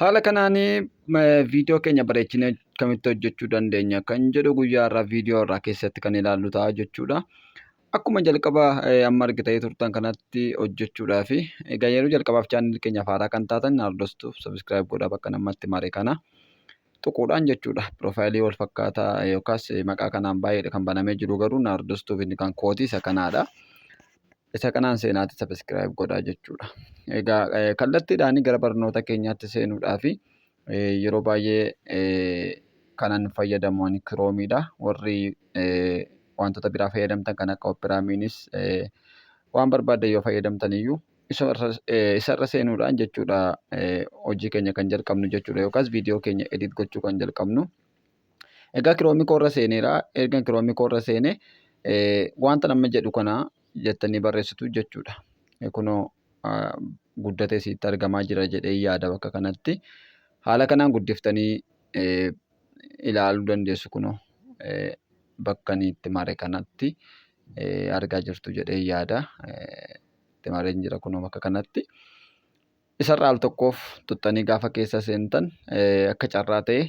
Haala kanaan viidiyoo keenya bareechine akkamitti hojjechuu dandeenya kan jedhu guyyaa irraa viidiyoo irraa keessatti kan ilaallu ta'a jechuudha. Akkuma jalqaba amma argitanii turtan kanatti hojjechuudhaa fi egaa yeroo jalqabaaf chaanalii keenyaaf haaraa kan taatan hordoftuuf sabiskiraayib godhaa bakka namatti mare kana tuquudhaan jechuudha. Piroofaayilii wal fakkaataa yookaas maqaa kanaan baay'eedha kan banamee jiru garuu na hordoftuuf inni kan kooti isa kanaadha. Isa kanaan seenaatti subscribe godhaa jechuudha. Egaa kallattiidhaan gara barnoota keenyaatti seenuudhaaf yeroo baay'ee kanan fayyadamu ani kiroomiidha. Warri wantoota biraa fayyadamtan kan akka operaamiinis waan barbaaddan yoo fayyadamtan iyyuu isarra seenuudhaan jechuudha hojii keenya kan jalqabnu jechuudha yookaas viidiyoo keenya edit gochuu kan jalqabnu. Egaa kiroomii koorra seeneera. Ergan kiroomii koorra seene wanta nama jedhu kana jettanii barreessitu jechuudha. Kunoo guddatee isiitti argamaa jira jedhee yaada bakka kanatti. Haala kanaan guddiftanii ilaaluu dandeessu kunoo bakka inni itti mare kanatti argaa jirtu jedhee yaada. Itti mareen jira kunoo bakka kanatti. Isarraa al tokkoof tuttanii gaafa keessa seentan akka carraa ta'e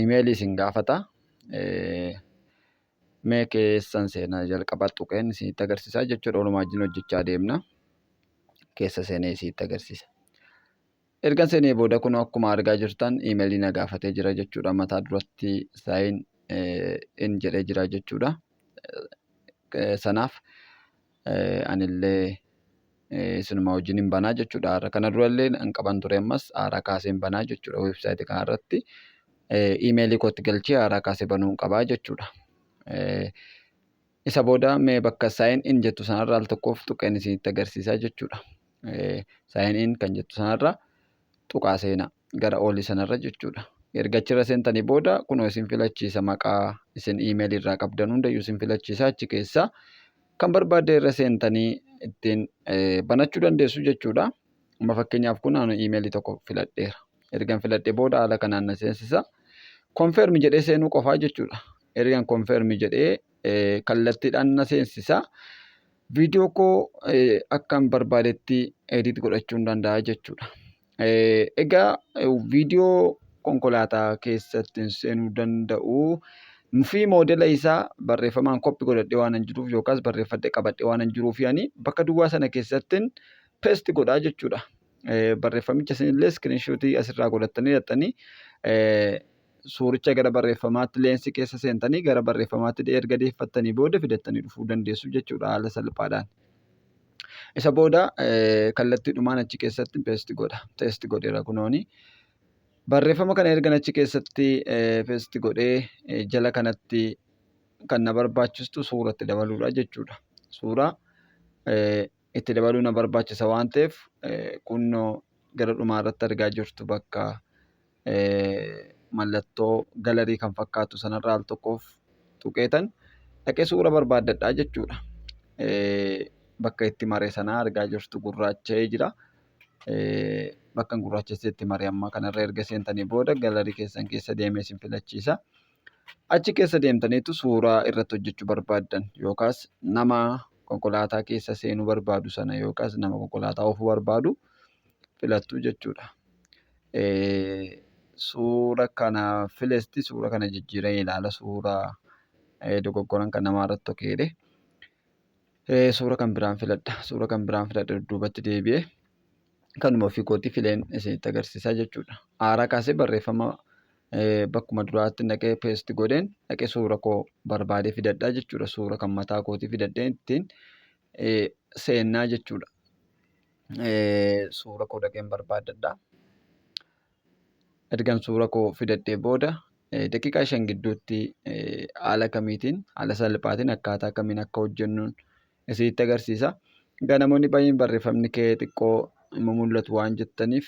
imeelii isin gaafata. Mee keessan seenaa jalqabaa tuqeen isinitti agarsiisaa jechuudha. Walumaa wajjin hojjechaa deemna. Keessa seenee isinitti agarsiisa. Ergan seenee booda kun akkuma argaa jirtan imeelii na gaafatee jira jechuudha. Mataa duratti saayin in jedhee jira jechuudha. Sanaaf anillee isinuma wajjin hin banaa jechuudha haara kana durallee an qaban ture ammas haara kaaseen banaa jechuudha website kana irratti imeelii kootti galchee haara kaasee banuun qabaa jechuudha isa booda mee bakka sign in jettu sanarraa al tokkoof tuqeen isinitti agarsiisaa jechuudha sign in kan jettu sanarraa tuqaa seenaa gara ooli sanarra jechuudha. Erga achirra seentanii booda kunoo isin filachiisa maqaa isin email irraa qabdan hundayyuu isin filachiisa achi keessa kan barbaaddan irra seentanii ittiin banachuu dandeessu jechuudha. Amma fakkeenyaaf kun ani email tokko filadheera. Ergan filadhe booda haala kanaan na seensisa. Confirm jedhee seenuu qofaa jechuudha. Ergan confirm jedhee kallattiidhaan na seensisa. Viidiyoo koo akkan barbaadetti edit godhachuun danda'a jechuudha. Egaa viidiyoo konkolaataa keessatti hin seenuu danda'u. Fi moodela isaa barreeffamaan koppi godhadhee waan hin jiruuf yookaas barreeffadhee qabadhee waan hin jiruuf ani bakka duwwaa sana keessattin pesti godhaa jechuudha. Barreeffamicha isinillee iskiriinshuutii asirraa godhattanii hidhattanii suuricha gara barreeffamaatti leensii keessa seentanii gara barreeffamaatti erga deeffattanii booda fidattanii dhufuu dandeessu jechuudha haala salphaadhaan. Isa booda kallattiidhumaan achi keessatti peesti godha. Teesti godheera kunooni. Barreeffama kana ergan achi keessatti peesti godhee jala kanatti kan na barbaachistu suura itti dabaluudha jechuudha. Suura itti dabaluu na barbaachisa waan ta'eef kunnoo gara dhumaa irratti argaa jirtu bakka mallattoo galarii kan fakkaatu sanarra al tokkoof tuqeetan dhaqe suura barbaaddadhaa jechuudha. Bakka itti mare sanaa argaa jirtu gurraacha'ee jira. Bakka gurraachessee itti mare ammaa kanarra erga seentanii booda galarii keessan keessa deemee isin filachiisa. Achi keessa deemtaniitu suuraa irratti hojjechuu barbaaddan yookaas nama konkolaataa keessa seenuu barbaadu sana yookaas nama konkolaataa oofuu barbaadu filattu jechuudha. Suura kana filesti suura kana jijjiiree ilaala suura dogoggoran kan namaa irratti tokeedhe. Suura kan biraan filadha. Suura kan biraan filadha dudduubatti deebi'ee kanuma ofii kootii fileen isinitti agarsiisaa jechuudha. Haaraa kaasee barreeffama bakkuma duraatti naqee peesti godheen naqee suura koo barbaadee fidadhaa jechuudha. Suura kan mataa kootii fidadhee ittiin seennaa jechuudha. suura koo dhaqeen barbaaddadha. Ergan suura koo fidadhee booda daqiiqaa shan gidduutti haala kamiitiin haala salphaatiin akkaataa kamiin akka hojjennuun isinitti agarsiisa. Egaa namoonni baay'een barreeffamni kee xiqqoo hin mul'atu waan jettaniif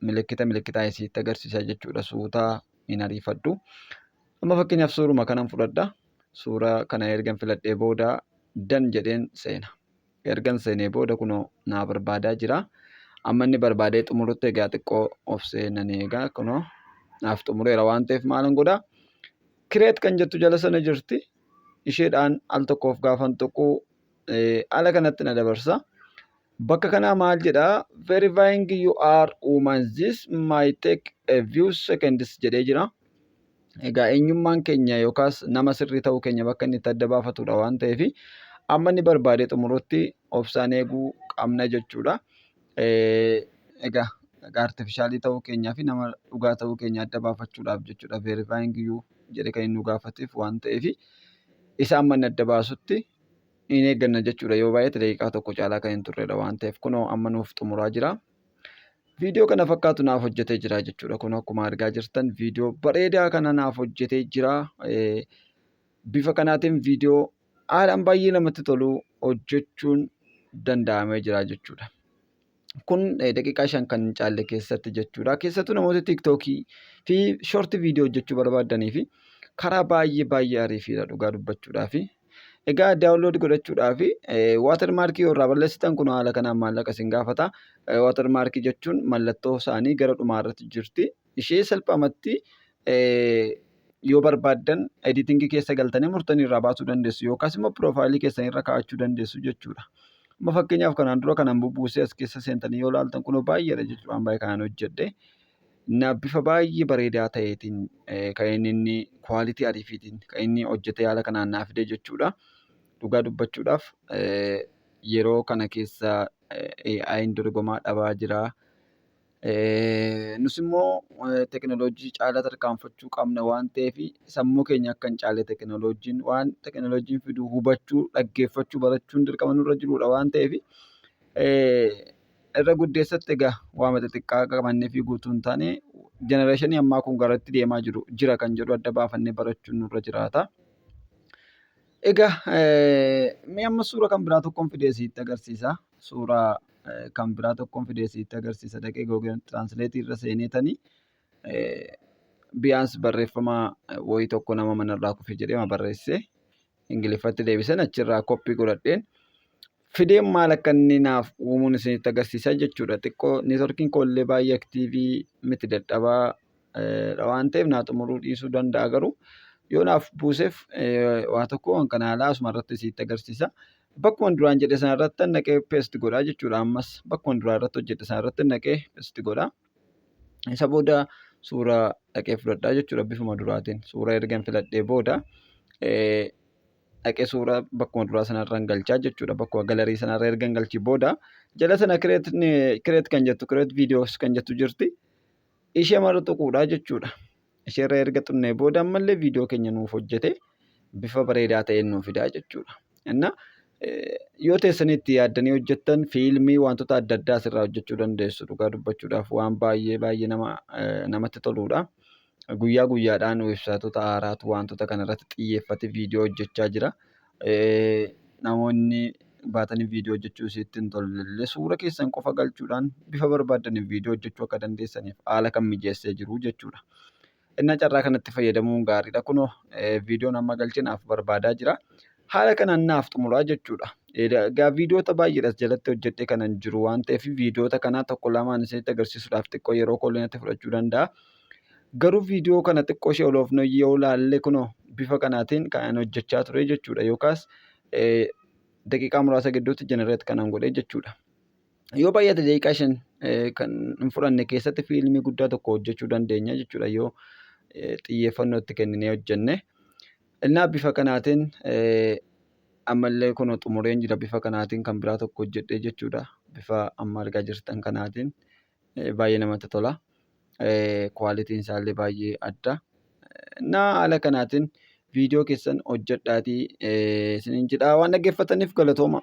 milikkita milikkitaa isinitti agarsiisa jechuudha suutaa hin ariifadhu. Amma fakkeenyaaf suuruma kanan fudhadha. Suura kana ergan filadhee booda dan jedheen seena. ergan seenee booda kunoo naa barbaadaa jira. Amma inni barbaadee xumurutti egaa xiqqoo obsee nan eegaa kunoo naaf xumureera waan ta'eef maalan godha. Kireet kan jettu jala sana jirti. Isheedhaan al tokkoof gaafan tuquu ala kanatti na dabarsa. Bakka kanaa maal jedha verifying you are woman this might take a few seconds jedhee jira. Egaa eenyummaan keenya yookaas nama sirrii ta'uu keenya bakka inni itti adda baafatudha waan ta'eef amma inni barbaadee xumurutti obsaan eeguu qabna jechuudha. Egaa artifishaalii ta'uu keenyaa fi nama dhugaa ta'uu keenya adda baafachuudhaaf jechuudha veerifaayiing iyyuu jedhee kan inni nu gaafateef waan ta'eef isa amma inni adda baasutti hin eegganna jechuudha yoo baay'ate daqiiqaa tokko caalaa kan hin turredha waan ta'eef kunoo amma nuuf xumuraa jira. Viidiyoo kana fakkaatu naaf hojjetee jira jechuudha. Kun akkuma argaa jirtan viidiyoo bareedaa kana naaf hojjetee jira. Bifa kanaatiin viidiyoo haalaan baay'ee namatti tolu hojjechuun danda'amee jira jechuudha. Kun daqiiqaa shan kan hin caalle keessatti jechuudha. Keessattuu namoota tiiktookii fi shoortii viidiyoo hojjechuu barbaadanii fi karaa baay'ee baay'ee ariifiidha dhugaa dubbachuudhaa fi Egaa daawunlood godhachuudhaaf waatar maarkii yoo irraa balleessitan kun haala kanaan maallaqa isin gaafata. Waatar maarkii jechuun mallattoo isaanii gara dhumaa irratti jirti. Ishee salphamatti yoo barbaaddan editingii keessa galtanii murtanii irraa baasuu dandeessu yookaas immoo piroofaayilii keessan irra kaa'achuu dandeessu jechuudha. Amma fakkeenyaaf kanaan dura kanan bubbuusee as keessa seentanii yoo ilaaltan kunoo baay'eedha jechuudha waan baay'ee kanaan hojjedhe. Innaa bifa baay'ee bareedaa ta'eetiin kan inni inni kwaalitii ariifiitiin kan inni hojjetee haala kanaan naa fide jechuudha. Dhugaa dubbachuudhaaf yeroo kana keessa AI'n dorgomaa dhabaa jira. Nus immoo tekinooloojii caalaa tarkaanfachuu qabna waan ta'eef sammuu keenya akka hin caalle tekinooloojiin waan tekinooloojiin fidu hubachuu, dhaggeeffachuu, barachuun dirqama nurra jirudha waan ta'eef irra guddeessatti egaa waama xixiqqaa qabannee fi guutuu hin taane jenereeshinii ammaa kun garatti deemaa jiru jira kan jedhu adda baafannee barachuun nurra jiraata. Egaa mee amma suura kan biraa tokkoon fidee sitti agarsiisa. Suura kan biraa tokkoon fidee sitti agarsiisa dhaqee Google Translate irra seenee tanii biyaans barreeffama wayii tokko nama manarraa kufe jedhee barreessee Ingiliffatti deebiseen achirraa koppii godhadheen Fideen maal akka inni naaf uumuun isinitti agarsiisa jechuudha. Xiqqoo neetworkiin koo illee baay'ee aktiivii miti dadhabaa dha waan ta'eef naa xumuruu dhiisuu danda'a garuu yoo naaf buuseef waa tokko waan kana haalaa asuma irratti isinitti agarsiisa. Bakkuma duraan jedhe sana irratti naqee peesti godhaa jechuudha ammas bakkuma duraa irratti hojjedhe sana irratti naqee peesti godhaa. Isa booda suuraa dhaqee fudhadhaa jechuudha bifuma duraatiin suura ergan filadhee booda. dhaqee suuraa bakkuma duraa sanarraan galchaa jechuudha. Bakkuma galarii sanarra ergan galchee booda jala sana kireet kan jettu kireet viidiyoos kan jettu jirti. Ishee mara tuquudha jechuudha. Isheerra erga tuqnee booda ammallee viidiyoo keenya nuuf hojjete bifa bareedaa ta'een nuuf fidaa jechuudha. Inna yoo teessanii itti yaaddanii hojjettan fiilmii wantoota adda addaa asirraa hojjechuu dandeessu dhugaa dubbachuudhaaf waan baay'ee baay'ee nama namatti toluudha. guyyaa guyyaadhaan websaayitoota haaraatu wantoota kana irratti xiyyeeffate viidiyoo hojjechaa jira. Namoonni baatanii viidiyoo hojjechuu isiitti hin tollellee suura keessan qofa galchuudhaan bifa barbaaddaniin viidiyoo hojjechuu akka dandeessaniif haala kan mijeessee jiru jechuudha. Innaa carraa kanatti fayyadamuun gaariidha. Kunoo viidiyoon amma galche naaf barbaadaa jira. Haala kanaan naaf xumuraa jechuudha. Egaa viidiyoota baay'eedhas jalatti hojjedhee kanan jiru waan ta'eef viidiyoota kanaa tokko lamaan isinitti agarsiisuudhaaf xiqqoo yeroo koo illee natti fudhachuu danda'a. Garuu viidiyoo kana xiqqoo ishee oloofnoo yoo ilaalle kunoo bifa kanaatiin kan hojjechaa ture jechuudha yookaas daqiiqaa muraasa gidduutti jenereet kanan godhe jechuudha. Yoo baay'ate daqiiqaa shan kan hin fudhanne keessatti fiilmii guddaa tokko hojjechuu dandeenya jechuudha yoo xiyyeeffannoo itti kenninee hojjenne. Innaa bifa kanaatiin ammallee kunoo xumureen jira bifa kanaatiin kan biraa tokko hojjedhee jechuudha. Bifa amma argaa jirtan kanaatiin. baay'ee namatti tola. Kwaalitiin isaallee baay'ee adda. Naa haala kanaatiin viidiyoo keessan hojjedhaatii isiniin jedhaa waan dhaggeeffataniif galatooma.